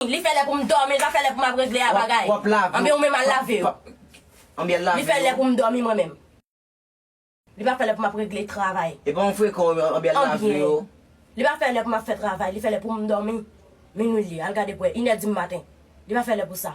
Li fè lè pou m dòmi, li pa fè lè pou m ap regle a bagay. Anben ou menm al lave yo. Li fè lè pou m dòmi mwen menm. Li pa fè lè pou m ap regle travay. Epa ou frekan ou anben al lave yo. Li pa fè lè pou m ap fè travay, li fè lè pou m dòmi. Minwi li ye, al gade pou wè, inè di m maten. Li pa fè lè pou sa.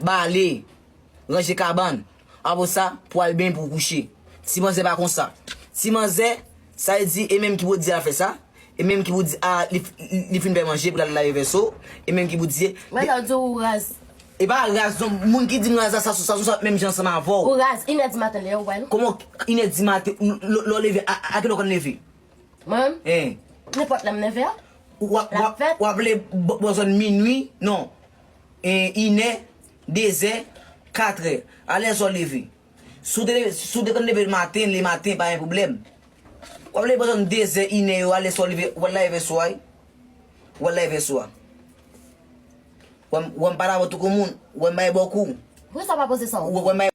Bale. Ranje kabann. Apre sa, pou al benyen pou w kouche. Ti manzè pa konsa. Ti manzè, sa l di, e menm ki pou di a fè sa, e menm ki pou di a li fin fè manje pou l al lave vèso, e menm ki pou di. Mwen ta di w ou raz. E pa raz non, moun ki di m raz la sa sou sa sou menm jan ansanm avè w. Ou raz. Inè di maten lè yo wè l. Kòman inè di maten, lè w leve, a kilè w konn leve? Mwen menm? Ee. Nenpòt lè m leve a. Ou ap leve bò zòn minui, non. inè, dezè, katrè. Alèz ou leve. Si w te leve, si w te konn leve maten, le maten pa gen pwoblèm. Wap leve bò zòn dezè, inè yo a, lè sa w leve, wal lave vès ou a wi. Wal lave vès ou a. Wè m pa lave w tou kou moun. Wè m bay bò kou. Poukisa w pa poze sa w kou? Wè m bay.